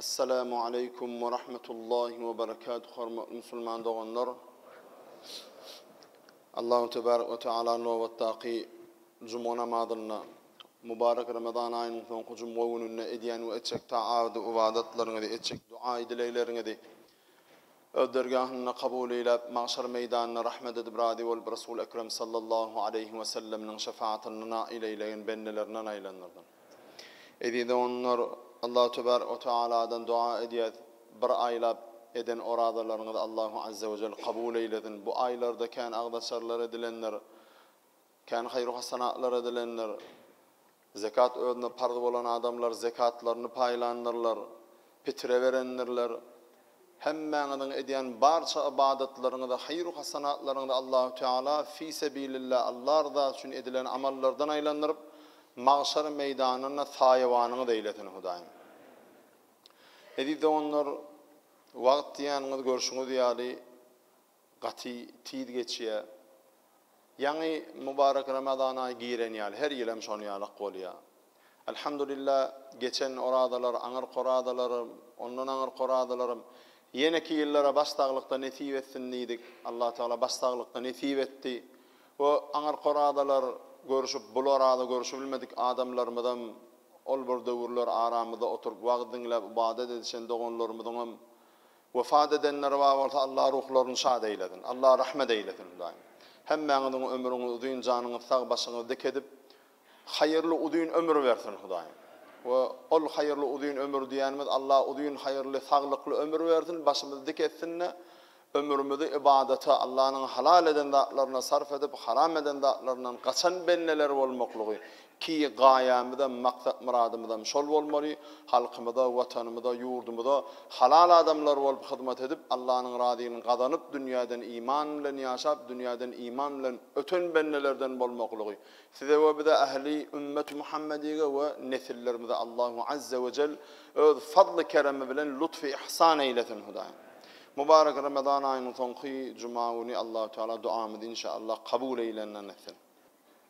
Assalamu aleykum we rahmetullahi we berekatuh hormatly musulman doganlar Allahu tebarek we taala nobatdaky juma namazynda mubarek ramazan aýynyň soňky jumga gününde edýän we etjek taat we ybadatlaryňyzy etjek duaýy dilegleriňizi Öz dergähinde kabul eýläp, Magşar meýdanynda rahmet edip razy bolup Resul Ekrem sallallahu aleýhi we selleminiň şefaatynda nail eýlegen bendelerinden aýlandyrdym. Eziz doganlar, Allahu tebarek we tealadan doga edýäs, bir aýlap eden orazalaryňyzy Allahu azze we jelle kabul eýlesin. Bu aýlarda kän agzaçarlar edilendir, kän haýru-hasanatlar edilendir. Zekat özüne parz bolan adamlar zekatlaryny paýlandyrlar, pitre berendirler. Hemmäňiziň edýän barça ybadatlaryňyzy, haýyr-u hasanatlaryňyzy Allahü Teala fi sebilillah, Alla ryzasy üçin edilen amallardan aýlandyryp, magşar meýdanynda saýawanyňyz eýlesin, Hudaýym. Eziz doganlar, wagt diýýäniňiz görşüňiz ýaly, Gaty tiz geçýä. Ýaňy Mubarek Ramazan aýy giren ýaly, her ýyl hem şon ýalak bolýa. Alhamdulilla geçen orazalar, aňyrky orazalarym, ondan aňyrky orazalarym, ýeneki ýyllara baş saglykda nesip etsin diýdik. Allah Tagala baş saglykda nesip etdi. We aňyrky orazalar görüşip, bul oraza görüşibilmedik adamlarymyzam, ol bir döwürler aramyzda oturyp wagz diňläp ybadat edişen doganlarymyzyňam Wepat edenler bar bolsa Allah ruhlaryny şad eýlesin. Allah rahmet eýlesin Hudaýym. Hemmäňiziň ömrüňiz uzyn janyňyz sag başyňyz dik edip haýyrly uzyn ömür bersin Hudaýym. We ol haýyrly uzyn ömür diýenimiz Allah uzyn haýyrly saglykly ömür bersin başymyz dik etsinde ömrümizi ybadata Allanyň halal eden zatlaryna sarf edip haram eden zatlaryndan gaçan bendeler bolmaklygy Ki gaýamyzam, maksat-myradymyzam şol bolmaly, halkymyza, Watanymyza, ýurdumyza halal adamlar bolup hyzmat edip, Allanyň razylygyny gazanyp, dünýäden iman bilen ýaşap, dünýäden iman bilen öten bendelerden bolmaklygy Size we bize ähli Ümmeti Muhammedige we nesillerimize Allahu Azze we Cell Öz fazly-keremi bilen lutfy-yhsan eýlesin, Hudaýym! Mubarek Ramazan aýynyň soňky juma güni Allahu Teala duamyzy inşa Allah kabul eýlänlerden etsin.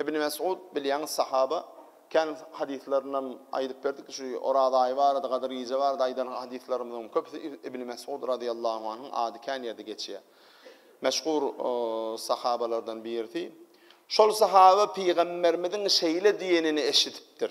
Ibn Mes'ud bilýäňiz sahaba kän hadyslaryndan aýdyp berdik şu Oraz aýy barada Gadyr gije barada aýdan hadyslarymyzyň köpüsi Ibn Mes'ud radyýallahu anhyň ady kän ýerde geçýär. Meşhur sahabalardan birisi. Şol sahaba pygamberimiziň şeýle diýenini eşidipdir.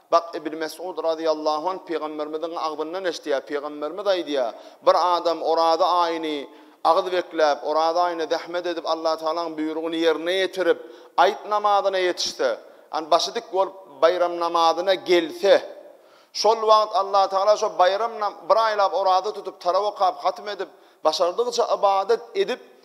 Bak, Ibn Mesud razyýallahu anh pygamberimiziň agzyndan eşitýär, pygamberimiz aýdýar, Bir adam Oraza aýyny agyz bekläp, Oraza aýyny zähmet edip Allatagalaň buýrugyny ýerine ýetirip, aýt namazyna ýetişse, ýagny başy dik bolup baýram namazyna gelse, şol wagt Allatagala şo baýram bir aýlap oraza tutup, tarap okap, hatm edip, başardygyça ybadat edip,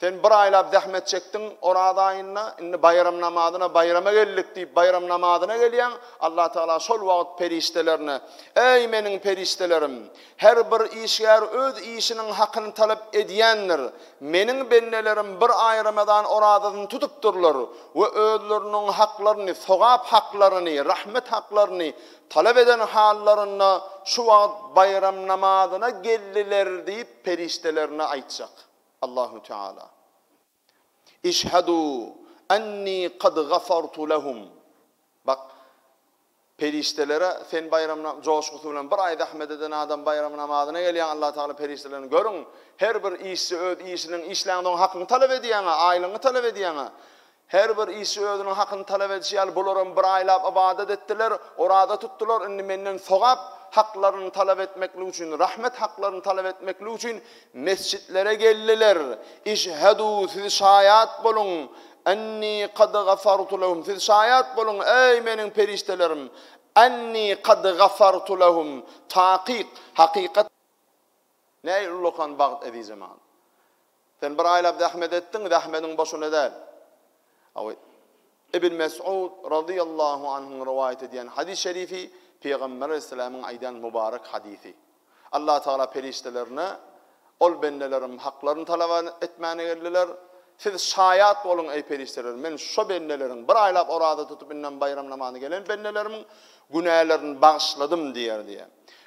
Sen bir aýlap zähmet çekdiň Oraz aýynda, indi baýram namazyna baýrama geldik diýip baýram namazyna gelýäň, Allatagala şol wagt perişdelerine, Eý, meniň perişdelerim! Her bir işgär öz işiniň hakyny talap edýändir. Meniň bendelerim bir aý ramazan orazasyny tutupdyrlar we özleriniň haklaryny, sogap haklaryny, rahmet haklaryny talap eden hallarynda şu wagt baýram namazyna geldiler diýip perişdelerine aýtjak. Allahu Teala, Işhedû ennî kad gafartu lehum, Bak, perişdelere sen baýram joşgusy bilen bir aý zähmet eden adam baýram namazyna gelýär, Allah Teala perişdelerini görüň, her bir işçi öz işiniň işlänsoň hakyňy talap edýäňä, aýlygyňy talap edýäňä, Her bir işçi özüniň hakyny talap edişi ýaly bularam bir aýlap ybadat etdiler, oraza tutdular, indi menden sogap haklaryny talap etmeklik üçin, rahmet haklaryny talap etmeklik üçin mesjitlere geldiler. Işhedû, siz şaýat boluň, enni kad gafartu lehum, siz şaýat boluň, eý, meniň perişdelerim, enni kad gafartu lehum, takyk, hakykat, Näil ullakan bagt Ezizeman. Sen bir aýlap zähmet etdiň, zähmediň boşuna däl. Awy, Ibn Mes'ud razyýallahu anhyň rowaýat edýän hadys şerifi Pygamber aleyhisselamyň aýdan mubarek hadysy. Allah Tagala perişdelerine, Ol bendelerim haklaryny talaba etmäne geldiler. Siz şaýat boluň eý perişdeler, men şo bendeleriň, bir aýlap oraza tutup indem baýram namazyna gelen bendelerimiň günälerini bagyşladym diýer diýýär.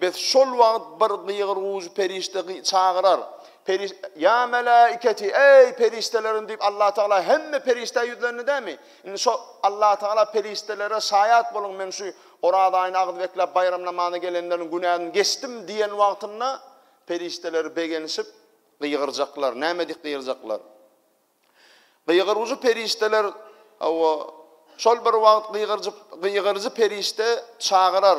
Biz şol wagt bir gygyr-gujy perişde çagyrar. Periş, Ýa meläiketi, eý, perişdelerim diýip Allatagala hemme perişdä ýüzlendi dämi? Indi şo Allatagala perişdelere şaýat boluň men şu Oraz aýyny agyz bekläp baýram namazyna gelenleriň günäsini geçdim diýen wagtynda perişdeler begenişip gygyrjaklar. Näme diýip gygyrjaklar? Gygyrujy perişdeler, hawa, şol bir wagt gygyrjy, gygyrjy perişde çagyrar,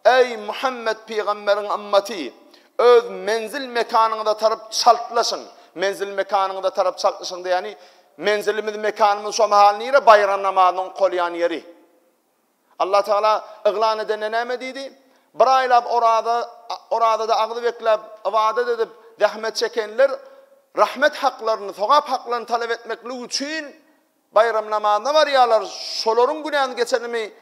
Eý, Muhammet pygamberiň ymmaty! Öz menzil-mekanyňyza tarap çaltlaşyň! Menzil-mekanyňyza tarap çaltlaşyň diýýäni, menzilimiz, mekanymyz şo mahal nire? Baýram namazyny okalýan ýeri. Allatagala yglan edende näme diýdi? Bir aýlap oraza, orazada agzy bekläp, ybadat edip, zähmet çekenler rahmet haklaryny, sogap haklaryny talap etmeklik üçin baýram namazyna barýarlar, şolaryň günäsi geçenimi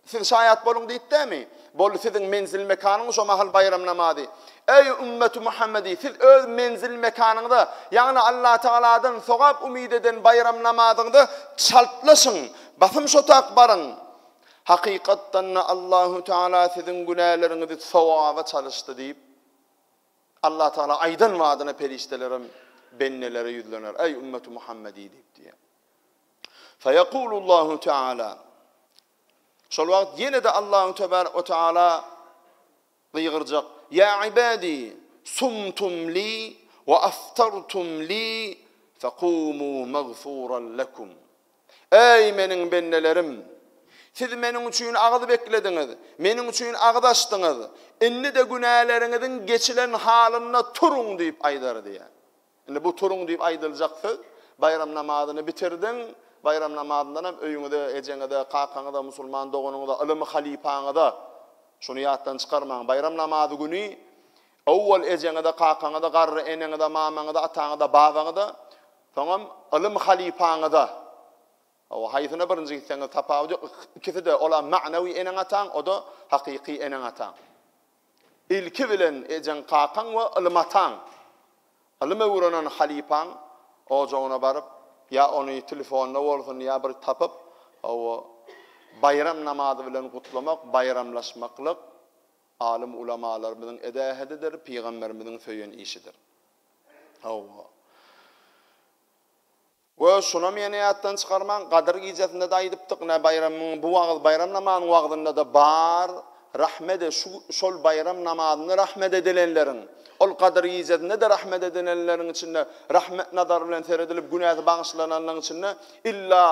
siz şaýat boluň diýipdämi? Boldy siziň menzil-mekanyňyz şo mahal baýram namazy. Eý ümmeti Muhammedi, siz öz menzil-mekanyňyza, ýagny Allatagaladan sogap umyt eden baýram namazyňyza çaltlaşyň. Basym şotak baryň. Hakykatdan-da Allahu Teala siziň günäleriňizi sogaba çalyşdy diýip, Allah Teala aýdan badyna perişdelerem bendelere ýüzlener, Eý ümmeti Muhammediý diýip diýýär. Feýekulullahu Teala. Şol wagt ýene-de Allahu Tebarek we Teala Gygyrjak, Ýa ibädi, sumtum li we aftartum li fekumû magfuran lekum. Eý, Meniň bendelerim! Siz Meniň üçin agyz beklediňiz, Meniň üçin agyz açdyňyz, indi-de günäleriňiziň geçilen halynda turuň diýip aýdar diýýär. Indi bu turuň diýip aýdyljak söz, baýram namazyny bitirdiň, baýram namazyndanam öýüňize, ejeňize, kakaňyza, musulman doganyňyza, ylym halypaňyza, şuny ýatdan çykarmaň, baýram namazy güni owwal ejeňize, kakaňyza, garry eneňize, mamaňyza, ataňyza, babaňyza, soňam ylym halypaňyza, hawa, haýsyna birinji gitseňiz tapawudy ýok, ikisi-de, ol-a magnawy eneň-ataň, o-da hakyky eneň-ataň. Ilki bilen ejeň-kakaň we ylym ataň, ylym öwrenen halypaň ojagyna baryp, ýa ony telefonda bolsun, ýa bir tapyp, hawa, baýram namazy bilen gutlamak, baýramlaşmaklyk alym-ulamalarymyzyň eden ähedidir, pygamberimiziň söýen işidir. Hawa. We şunam ýene ýatdan çykarmaň, Gadyr gijesinde-de aýdypdyk, nä baýramyň, bu wagyz, baýram namazynyň wagzynda-da bar, Rahmet et, şu, şol baýram namazynda rahmet edilenleriň, ol Gadyr gijesinde-de rahmet edilenleriň içinde, rahmet nazary bilen seredilip, günäsi bagyşlananlaryň içinde illa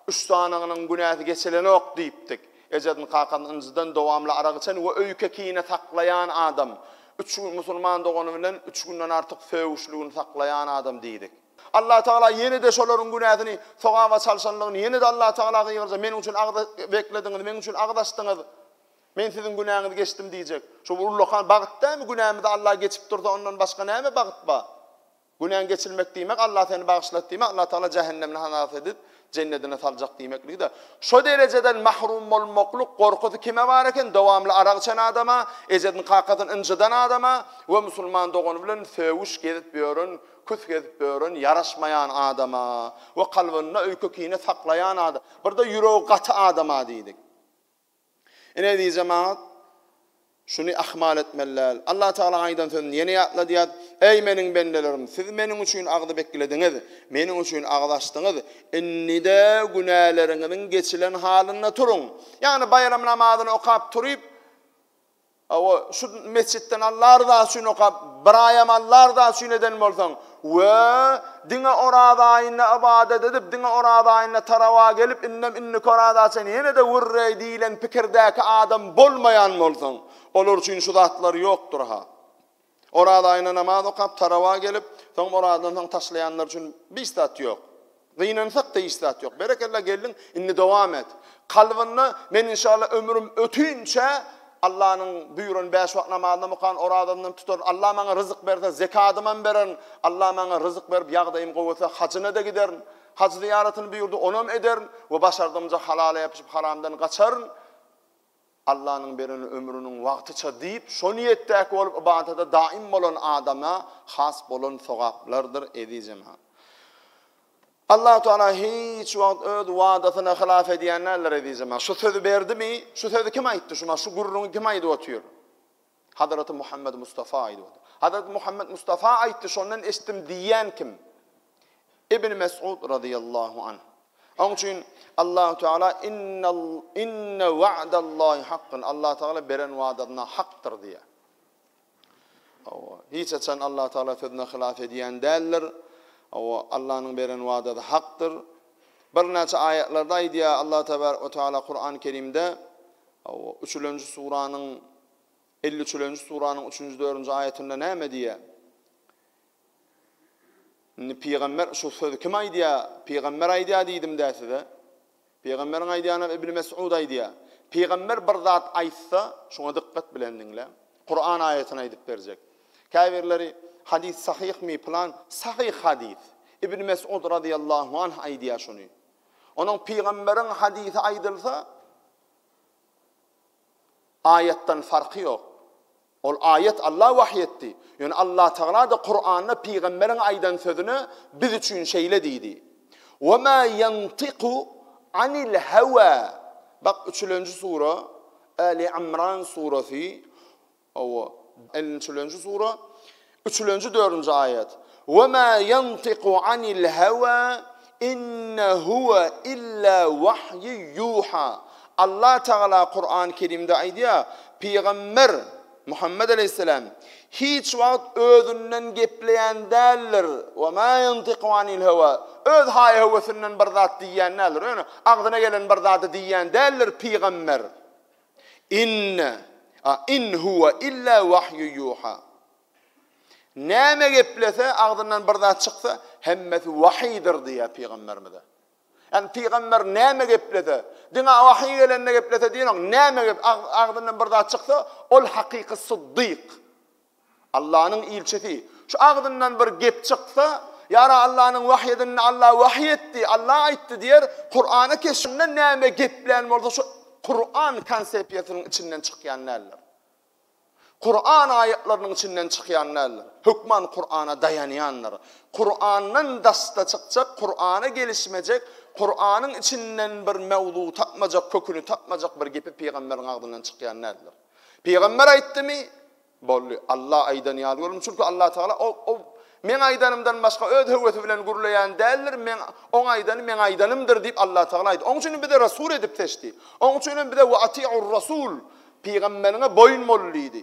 üç sanygynyň günäsi geçilenok diýipdik. Ejesini, kakasyny ynjydan, dowamly arak içen we öýke kine saklaýan adam. Üç gün musulman dogany bilen üç günden artyk söýüşligini saklaýan adam diýdik. Allatagala ýene-de şolaryň günäsini sogaba çalşanlygyny, ýene-de Allatagala gygyrjak, Meniň üçin agyz beklediňiz, meniň üçin agyz açdyňyz, Men siziň günäňizi geçdim diýjek. Şu bir ullakan bagt dälmi, günämizi Alla geçip dursa, ondan başga näme bagt bar? Günäň geçilmek diýmek, Alla seni bagyşlady diýmek, Allatagala jähennemini halas edip, jennedine saljak diýmekligi-dä. Şo derejeden mahrum bolmaklyk gorkusy kime bar eken? Dowamly arak içen adama, ejesini-kakasyny ynjydan adama we musulman dogany bilen sögüş gezip ýören Küs gezip ören ýaraşmaýan adama we kalbynda öýke-kine saklaýan adam, birde ýüregi gaty adama diýdik. Ine, eziz jemagat, şuny ahmal etmeli däl. Allatagala aýdan sözüni ýene ýatladýar, Eý, Meniň bendelerim, siz Meniň üçin agzy beklediňiz, Meniň üçin agyz açdyňyz, indi-de günäleriňiziň geçilen halynda turuň. Ýagny baýram namazyny okap turup, Hawa, şu metjitden Alla ryzasy üçin okap, bir aýam Alla ryzasy üçin eden bolsaň, we, diňe Oraz aýynda ybadat edip, diňe Oraz aýynda taraba gelip, indem indiki Oraza çenli ýene-de gürreý diýlen pikirdäki adam bolmaýan bolsaň, olar üçin şu zatlar ýokdur-ha. Oraz aýyna namaz okap, tarawa gelip, soňam orazadan soň taşlaýanlar üçin biş zat ýok. Gynansak-da hiç zat ýok. Berekella gelniň, indi dowam et. Kalbynda men inşallah ömrüm ötünçä Allanyň buýran bäş wagt namazynam okan, orazamdam tutaryn. Allah maňa ryzyk berse, zekadymam bererin. Allah maňa ryzyk berip, ýagdaýym gowusa, hajyna-da giderin. Haj zyýaratyny buýurdy, onam ederin we başardymja halala ýapyşyp, haramdan gaçaryn. Allanyň beren ömrüniň wagtyça diýip, şo niýetdäki bolup ybadata daim bolan adama has bolan sogaplardyr, eziz jemagat. Allahu Teala hiç wagt öz wadasyny hylaf edýän däldir, eziz jemagat. Şu sözi berdimi? Şu sözi kim aýtdy? Şu ma şu gürrüňi kim aýdyp otyr? Hazreti Muhammed Mustafa aýdybady. Hazreti Muhammed Mustafa aýtdy, şondan eşitdim diýýän kim? Ibn Mes'ud razyýallahu anh. Oň üçin Allahu Teala innal inna wa'dallahi haqqun. Allah Teala beren wadasyna hakdyr diýýär. Awa, hiç haçan Allah Teala sözüne hylaf edýän däldir. Awa, Allah'nyň beren wadasy hakdyr. Birnäçe aýatlarda aýdýar Allah Tebaraka we Teala Kur'an-Kerimde Hawa, üçülenji suranyň elli üçülenji suranyň üçünji, dördünji aýatynda näme diýýär? Indi pygamber şu sözi kim aýdýar? Pygamber aýdýar diýdim-dä size. Pygamberiň aýdýanyny Ibn Mes'ud aýdýar. Pygamber bir zat aýtsa, şuňa dykgat bilen diňläň. Kuran aýatyny aýdyp berjek. Käbirleri hadys sahyhmi pylan, sahyh hadys. Ibn Mes'ud radiyallahu anh aýdýar şuny. Onuň pygamberiň hadysy aýdylsa, Aýatdan farky ýok. Ol aýat Alla wahyý etdi. Ýöne Allatagala-da Kuranda pygamberiň aýdan sözüne biz üçin şeýle diýdi, Ve ma ýantiku anil hewa. Bak, üçülenji sura, Äli Ymran surasy, Hawa, ellinçilenji sura, üçülenji, dördünji aýat, We ma ýantiku anil hawa, in huwa illa wahyu yuha. Allah Tagala Kurany Kerimde aýdýar, Pygamber, Muhammet aleýhisselam, hiç wagt özünden gepleýän däldir, we ma ýantiku anil hawa, öz haý-höwesinden bir zat diýýän däldir, ýöne agzyna gelen bir zady diýýän däldir pygamber. Inne, a in huwa illa wahyu yuha. Näme geplese, agzyndan bir zat çyksa, hemmesi wahydyr diýýär pygamberimize. Ýani pygamber näme geplese, diňe wahy gelende geplese diýenok, näme gep agzyndan bir zat çyksa, ol hakyky syddyk. Allanyň ilçisi, Şu agzyndan bir gep çyksa, Ýara Allanyň wahy edinini Alla wahy etdi, Alla aýtdy diýer, Kurany keşinden näme geplän bolsa şu Kuran konsepiýasynyň içinden çykýan däldir. Kuran aýatlarynyň içinden çykýan däldir. Hökman Kurana daýanýandyr. Kurandan daşda çykjak, Kurana gelişmejek, Kuranyň içinden bir mewzu tapmajak, köküni tapmajak bir gepi pygamberiň agzyndan çykýan däldir. Pygamber aýtdymy? Boldy. Alla aýdan ýaly görelim. Çünki Allatagala o, o Meň aýdanymdan başga öz höwesi bilen gürleýän däldir, meň, oň aýdany meň aýdanymdyr diýip Allatagala aýtdy. Oň üçinem bizi resul edip seçdi. Oň üçinem bize we atiur-rasul, pygamberiňe boýun bol diýdi.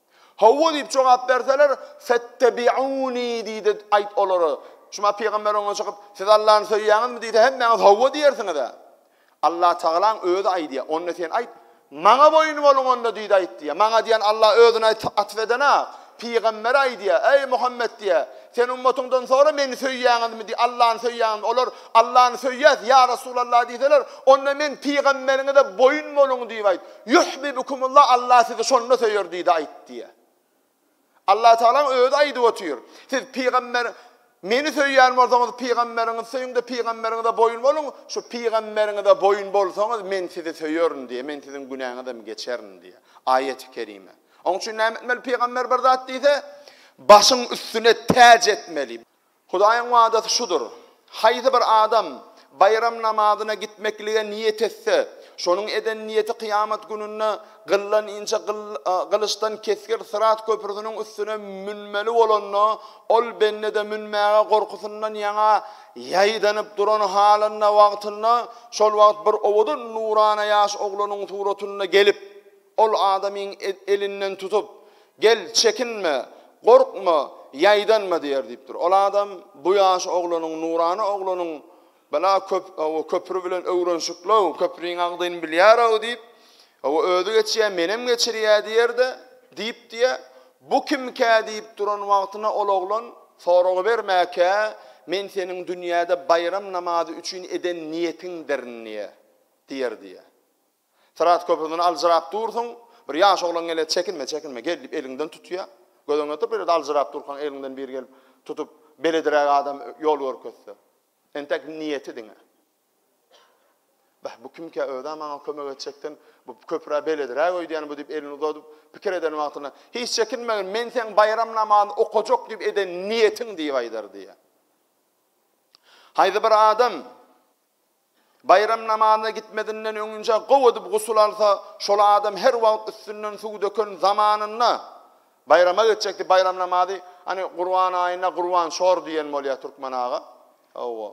Hawa diýip jogap berseler, Fettebi'uni diýde aýt olara. Şuma pygamber oňa çykyp, Siz Allany söýýäňizmi diýse, hemmäňiz hawa diýersiňiz-ä. Allah tagalaň özi aýdýar. Onda sen aýt, Maňa boýun boluň onda diýde aýt diýýär. Maňa diýen Allah özüni atf edena, pygambere aýdýar, Eý Muhammet diýýär, sen ummatyňdan sora meni söýýäňizmi diý, Allany söýýäňizmi? Olar, Allany söýýäs, ýa Resulallah diýseler, onda men pygamberiňize boýun boluň diýip aýt. Yuhbibukumullah Allah sizi şonda söýer diýdi aýt diýýär. Allah Tagalaň özi aýdyp otyr. Siz pygamber meni söýýän bolsaňyz pygamberiňizi söýüňde pygamberiňize boýun boluň. Şu pygamberiňize boýun bolsaňyz men sizi söýerin diýýär. Men siziň günäňizi hem geçerin diýýär. Aýeti kerime. Oň üçin näme etmeli pygamber bir zat diýse başyň üstüne täç etmeli. Hudaýyň wadasy şudur, Haýsy bir adam baýram namazyna gitmeklige niýet etse, şonuň eden niýeti kyýamat gününde gyldan inçe gylyçdan kesgir syrat köprüsiniň üstüne münmeli bolanda, ol bende-de münmäge gorkusyndan ýaňa ýaýdanyp duran halynda wagtynda, şol wagt bir owadan nurana ýaş oglanyň suratynda gelip, Ol adamyň elinden tutup, Gel, çekinme, gorkma, ýaýdanma diýer diýipdir. Ol adam bu ýaş oglanyň, nurana oglanyň bala köp, hawa, köpri bilen öwrenşikli-ow, köpriň agzyny bilýär-ow diýip, hawa, özi geçýär, menem geçirýär diýer-de, diýip diýe, Bu kimkä diýip duran wagtyna ol oglan, Soragy berme-kä, men seniň dünýäde baýram namazy üçin eden niýetiňdirin diýe, diýer diýe. Syrat köprüsinden aljyrap dursuň, bir ýaş oglan gelýär, Çekinme, çekinme, gel diýip eliňden tutýar. Gödegine oturyp belet aljyrap durkaň eliňden biri gelip tutup, belediräk adam ýol görkezse. Entek niýeti diňe. Beh, bu kimkä, öz-ä maňa kömek etjekden, bu köprä belediräk öýdýän bu diýip elini uzadyp, pikir eden wagtynda, Hiç çekinmegin, men seň baýram namazyny okajak diýip eden niýetiň diýip aýdar diýýär. Haýsy bir adam Baýram namazyna gitmezinden öňinje gowy edip gusul alsa, şol adam her wagt üstünden suw döken zamanynda baýrama geçjekdi, baýram namazy, hany Gurban aýynda Gurban şor diýen bolýar türkmen aga. Hawa.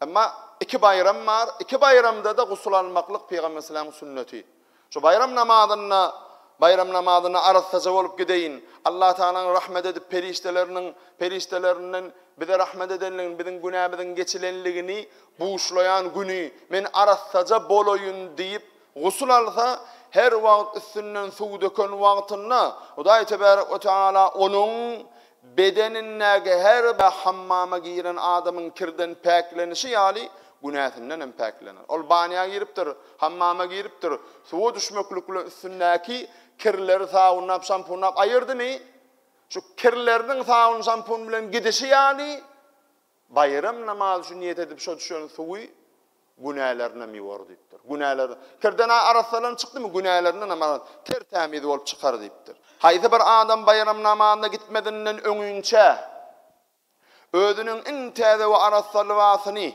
Emma iki baýram bar, iki baýramda-da gusul almaklyk Pygamber sallallahu aleyhi ve sellem'iň sünneti. Şu baýram namazynda Baýram namazyna arassaja bolup gideýin. Allatagalaň rahmet edip perişdeleriniň perişdelerinden bize rahmet edenligini, biziň günämiziň geçilenligini buşlaýan güni men arassaja bolaýyn diýip gusl alsa, her wagt üstünden suw döken wagtynda Hudaý tebärek we tagala onuň Bedenindäki her bir hammama giren adamyň kirden päklenişi ýaly, günäsinden hem päklener. Ol banýa giripdir, hammama giripdir, suwa düşmeklik bilen üstündäki kirleri sabunlap, şampunlap aýyrdymy, şu kirleriniň sabun-şampun bilen gidişi ýaly, Baýram namazy üçin niýet edip şo düşen suwy günälerinden ýuwar diýipdir. Günäler Kirdena arassalan çykdymy günälerinden hem ara ter tämiz bolup çykar diýipdir. Haýsy bir adam baýram namazyna gitmezinden öňinçä özüniň iň täze we arassa lybasyny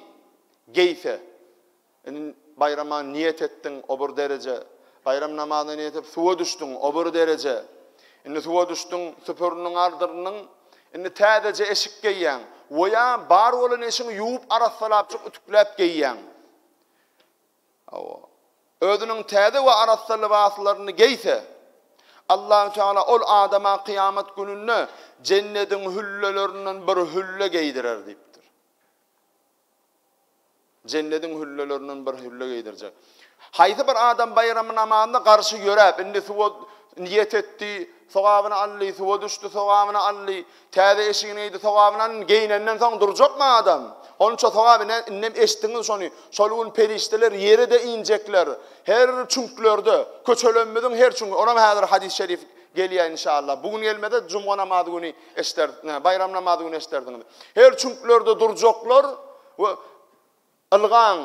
geýse, Indi baýrama niýet etdiň, o bir dereje. Baýram namazyna niýet edip suwa düşdüň, o bir dereje. Indi suwa düşdüň, süpüriniň aldyrnyň, indi täzeje eşik geýýäň we ýa bar bolan eşiňi ýuwup arassalapjyk ütükläp geýýäň. Hawa. Özüniň täze we arassa lybaslaryny geýse, Allahü Teala ol adama kyýamat gününde jennediň hüllelerinden bir hülle geýdirer diýipdir. Jennediň hüllelerinden bir hülle geýdirjek. Haýsy bir adam baýramy namazyna garşy ýöräp, indi suwa niýet etdi, sogabyny aldy, suwa düşdi, sogabyny aldy, täze eşigini geýdi, sogabyny aldy, geýnenden soň durjakmy adam? Onça sogaby ne, indem eşitdiňiz şony, şol gün perişdeler ýere-de injekler, her çüňklerde, köçelerimiziň her çüňkü, onam häzir hadys-şerif gelýär inşallah. Bu gün gelmese, jumga namazy güni Eşder, nä, baýram namazy güni eşderdiňiz. Her çüňklerde durjaklar we Ylgaň,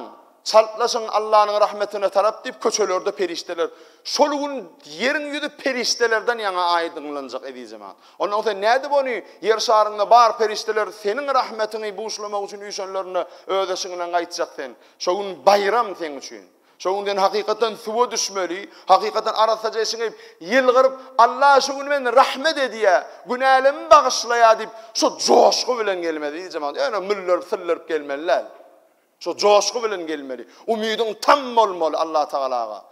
çaltlaşyň Allanyň rahmetine tarap diýip köçelerde perişdeler. Şol gün ýeriň ýüzi perişdelerden ýaňa aýdyňlanjak eziz jemagat. Ondan sen nädip ony ýer şaryňda bar perişdeler seniň rahmetiňi buşlamak üçin üýşenlerinde öz eşiňden gaýtjak sen. Şo gün baýram seň üçin. Şo gün sen hakykatdan suwa düşmeli, hakykatdan arassaja şiňip, ýylgyryp, Alla şu gün meni rahmet edýä, günälemi bagyşlaýa diýip, şo joşgy bilen gelmeli yzy jemagat. Ýöne müllerip, syllyryp gelmeli däl. Şo joşgy bilen gelmeli. Umydyň tam bolmaly Alla Tagalaga.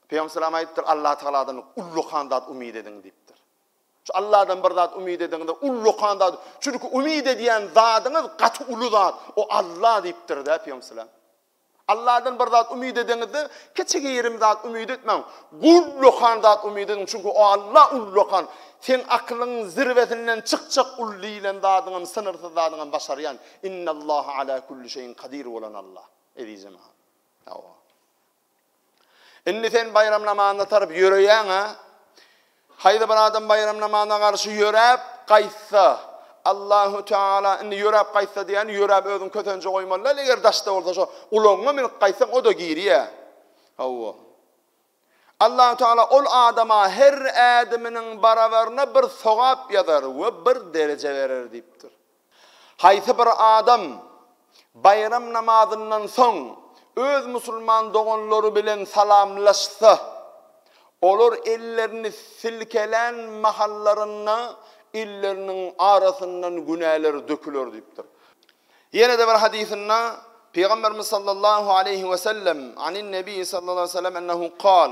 Pygamber salam aýdypdyr, Alla Tagaladan ullakan zat umyt ediň diýipdir. Şu Alladan bir zat umyt ediňde ullakan zat. Çünki umyt edýän zadyňyz gaty uly zat. O Alla diýipdir-de Pygamber salam. Alladan bir zat umyt edeňizde, kiçi-girim zat umyt etmäň. Ullakan zat umyt ediň, çünki o Alla ullakan. Seň akylyň zirwesinden çykjak uly diýlen zadyňam, synyrsyz zadyňam başarýan, Innallaha ala kulli şeýin kadir bolan Alla. Eziz jemagat. Hawa. Indi sen baýram namazyna tarap ýöreýäň-ä. Haýsy bir adam baýram namazyna garşy ýöräp gaýtsa, Allahu Teala indi ýöräp gaýtsa diýýän, ýöräp özüň kösenje goýmaly däl, eger daşda bolsa şo ulagyňa münüp gaýtsaň o-da girýä. Hawa. Allahu Teala ol adama her ädiminiň barabaryna bir sogap ýazar we bir dereje berer diýipdir. Haýsy bir adam baýram namazyndan soň öz musulman doganlary bilen salamlaşsa, olar ellerini silkelän mahallarynda elleriniň arasyndan günäler döküler diýipdir. Ýene-de bir hadysynda Pygamberimiz sallallahu aleýhi wesellem, Anin Nebiýi sallallahu aleýhi wesellem ennehu kal,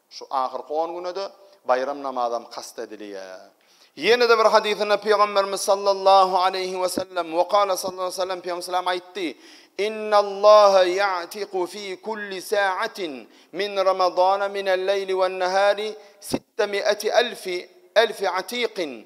Şu ahyrky on güne-de baýram namazam kast edilýär. Ýene-de bir hadysynda Pygamberimiz sallallahu aleýhi we sellem, Wekala sallallahu aleýhi we sellem Pygamberimiz sallallahu aleýhi we sellem aýtdy, Innallaha ýa'tiku fi kulli sa'atin min Ramazana minel-leýli wen-nahari sitte mi'ati elfi, elfi atiqin.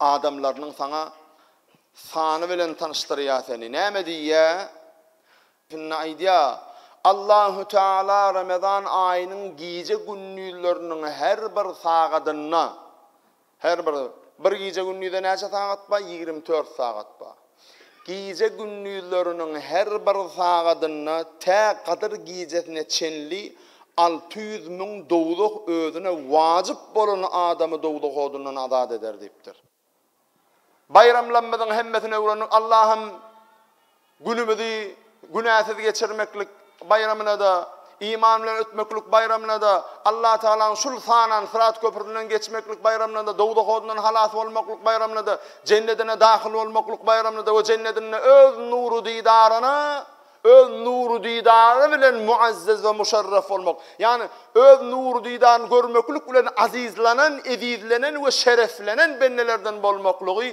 adamlarynyň saňa sany bilen tanyşdyrýar seni. Näme diýýär? Şunda aýdýar, Allahü Teala Ramazan aýynyň gije-gündizleriniň her bir sagadynda, her bir, bir gije-gündize näçe sagat bar? Ýigrimi dört sagat bar. Gije gündizleriniň her bir sagadynda tä Gadyr gijesine çenli alty ýüz müň dowzah özüne wajyp bolan adamy dowzah odundan azat eder diýipdir. Baýramlarymyzyň hemmesini öwrendik. Allahym günümizi Günäsiz geçirmeklik baýramyna-da, iman bilen ötmeklik baýramyna-da, Allatagalaň şul sanan syrat köprüsinden geçmeklik baýramyna-da, dowzah odundan halas bolmaklyk baýramyna-da, Jennedine dahyl bolmaklyk baýramyna-da we Jennedinde Öz nury-didaryna, Öz nury-didary bilen muazzez we muşerref bolmak, ýagny Öz nury-didaryny görmeklik bilen azyzlanan, ezizlenen we şereflenen bendelerden bolmaklygy